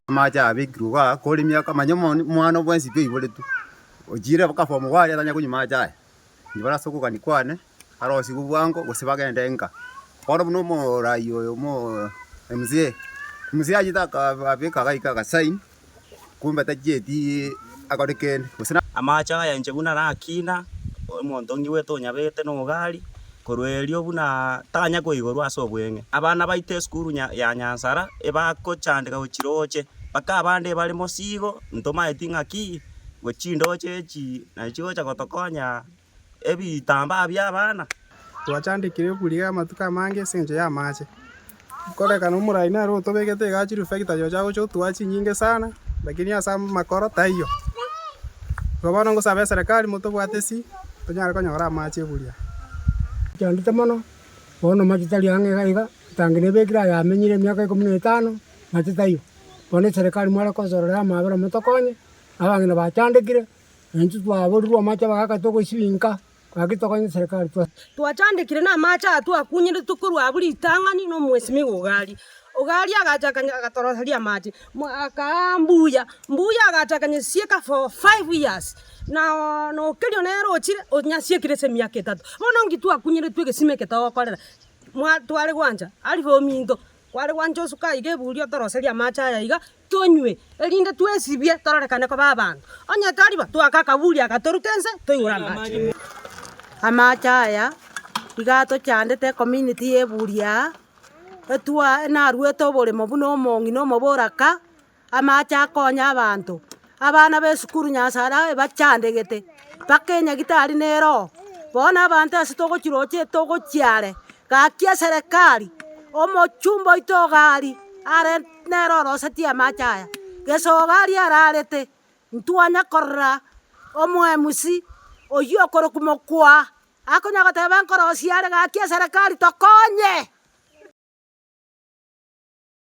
Amache abekirwe iga kore miaka manya omwani omwano bwensi pi oiboretwe. Ochiire baka form four aria tanya konywa amache aya. Nigo barase okogania kwane, barosigwe bwango, gose bagende enka. Bono buna omoraai oyo omzee, omzee achete akabeka agaika agasign, kumbe tachieti akore kende, gose. Amache aya inche buna naro akina, omonto onge bwete onyabete na ogari, korwa erio buna tanya koigorwa ase obweng'e. Abana baito esukuru ya Nyansara, ebagochandeka gochia roche, mpaka abande ebare mosigo, ntomaeti ng'aki. Gwe chindooche echi naye chigocha gotokonya ebitambaa bi'abana. Twachandekire okwiriga amatuko amange ase engencho y'amaache. Nkorekana omorai nere otobegete egachi refekita yocha gocha otoa chinyinge sana lakini ase amakoro taiyo. Igo bono ngosabe eserekari motobwate si tonyare konyora amache buya. Nchandete mono bono mache tari ang'e iga iga etangi nebekire aye amenyire emiaka ikomi na etano mache taiyo. Bono eserekari mware kosorora amaabera motokonye abang'ina bachandekire, na intwe twaborirwe amache bagaka togosibinka, gaki tokonye serikali twa. Twachandekire na amache aya twakunyeretie korwa abwo ritang'ani na omwesimigwa o Gari. O Gari agacha akany agatoroseria amache, mwa akaa mbuya, mbuya agacha akanyesieka for five years, na oo na okerio nere ochire onyasiekire ase emiaka etato. Bono nki twakunyeretwe egesima eke togokorera? Mwa tware gwancha, arifu ominto, kware gwancha osuka iga eburi otoroserie amache aya iga. tonywe, erinde twesibie tororekane koba abanto. Onye tari bo, toake akaburi agatoruta ense, toigure amache. Amache aya iga atochandete ecommunity ya eburi aa, etwa- naruete oboremo buna omong'ina omoboraka, amache akonye abanto, Abana b'esukuru Nyasae aye bachandegete, mpaka enyagitari ne eroho. Bono abanto ase togochiroche togochia are, gaki eserekari, omochumba oito iga aria, are nere orosetie amache aya. Gesogo aria ararete, ntwanya korora omo MC oyio okorokwa Mokwa, akonya goteba nkorosie are gaki eserekari tokonye.